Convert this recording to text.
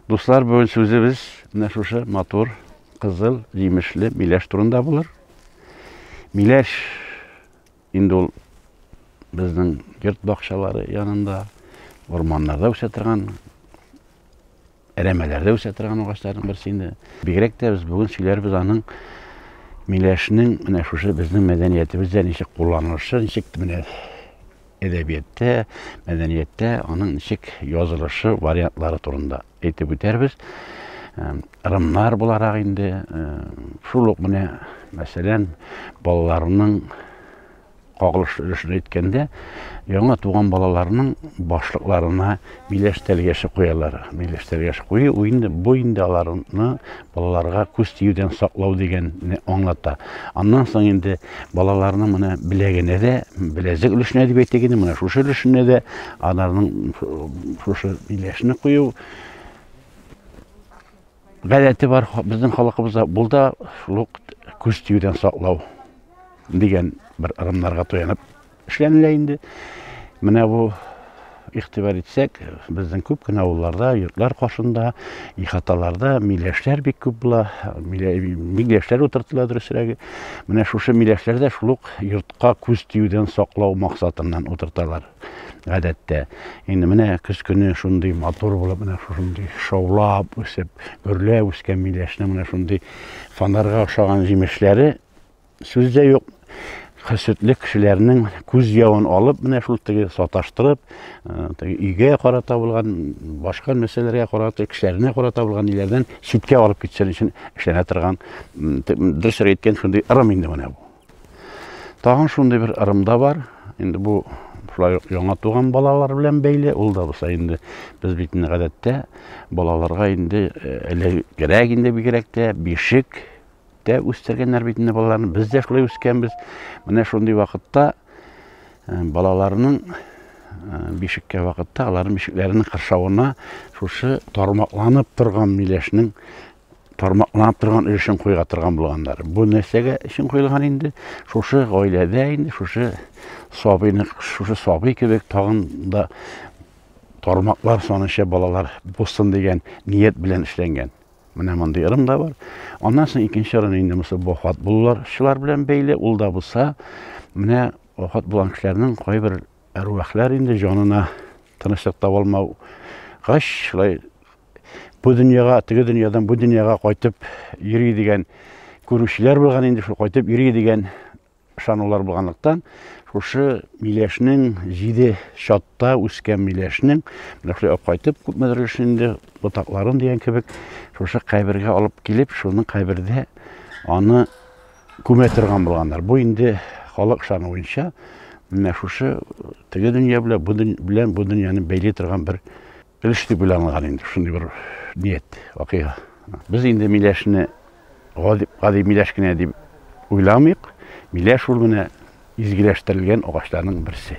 Дуслар, бүген сүзебез менә шушы матур, кызыл, җимешле миләш турында булыр. Миләш инде ул безнең йорт бакчалары янында, урманнарда үсә торган, әрәмәләрдә үсә торган агачларның берсе инде. Бигрәк тә без бүген сөйләрбез аның миләшнең менә шушы безнең мәдәниятебездә ничек кулланылышы, ничек менә әдәбияттә, мәдәнияттә аның ничек язылышы вариантлары турында әйтеп үтәрбез. Ырымнар буларак инде шул ук менә мәсәлән балаларның кагылыш өлешен әйткәндә, яңа туган балаларның башлыкларына миләш тәлгәше куялар. Миләш тәлгәше кую инде бу инде аларны Балаларга күз тиюдән саклау дигәнне аңлата. Аннан соң инде балаларның менә беләгенә дә, беләзек өлешенә дип әйтик инде, менә шушы өлешенә дә аларның шушы миләшне кую гадәте бар безнең халкыбызда. Бу да шул ук күз тиюдән саклау дигән бер ырымнарга таянып Эшләнелә инде. Менә бу игътибар итсәк, безнең күп кенә авылларда, йортлар каршында, ихаталарда миләшләр бик күп була. Миләшләр утыртыла дөресрәге. Менә шушы миләшләр дә шул ук йортка күз тиюдән саклау максатыннан утырталар. Гадәттә, инде менә көз көне шундый матур булып, менә шундый шаулап үсеп, гөрләп үскән миләшне менә шундый фонарга охшаган җимешләре Сүз дә юк. Хөсетле кешеләрнең күз явын алып, менә шул теге саташтырып, э, теге өйгә карата булган, башка мәсьәләләргә карата, кешеләренә карата булган ниләрдән читкә алып китсен өчен эшләнә торган, дөресрәк әйткән, шундый ырым инде менә бу. Тагын шундый бер ырым да бар. Инде бу шулай ук яңа туган балалар белән бәйле ул да булса инде без бит инде гадәттә балаларга инде э, элегрәк инде бигрәк тә бишек дә үстергәннәр бит инде балаларны. Без дә шулай үскәнбез. Менә шундый вакытта э, балаларның э, бишеккә вакытта аларның бишекләренең кыршавына шушы тармакланып торган миләшнең тармакланып торган өлешен куйга торган булганнар. Бу нәрсәгә өчен куелган инде? Шушы гаиләдә инде шушы сабыйны, шушы сабый кебек тагын да тармаклар саныча балалар булсын дигән ният белән эшләнгән. Менә мондый ырым да бар. Аннан соң икенче ырым инде монысы вафат булуларчылар белән бәйле. Ул да булса, менә вафат булган кешеләрнең кайбер әрвахлар инде җанына тынычлык таба алмаугач, шулай бу дөньяга, теге дөньядан бу дөньяга кайтып йөри дигән күрүчеләр булган инде шул кайтып йөри дигән Ышанулар булганлыктан, шушы миләшнең җиде чатта үскән миләшнең менә шулай апкайтып күпмедер өчен инде ботакларын дигән кебек шушы кабергә алып килеп, шуның кабердә аны күмә торган булганнар. Бу инде халык ышануы буенча менә шушы теге дөнья белән бу белән бу дөньяны бәйли торган бер өлеш дип уйланган инде шундый бер ният, вакыйга. Без инде миләшне гади миләш кенә дип уйламыйк. Миләш ул менә изгеләштерелгән агачларның берсе.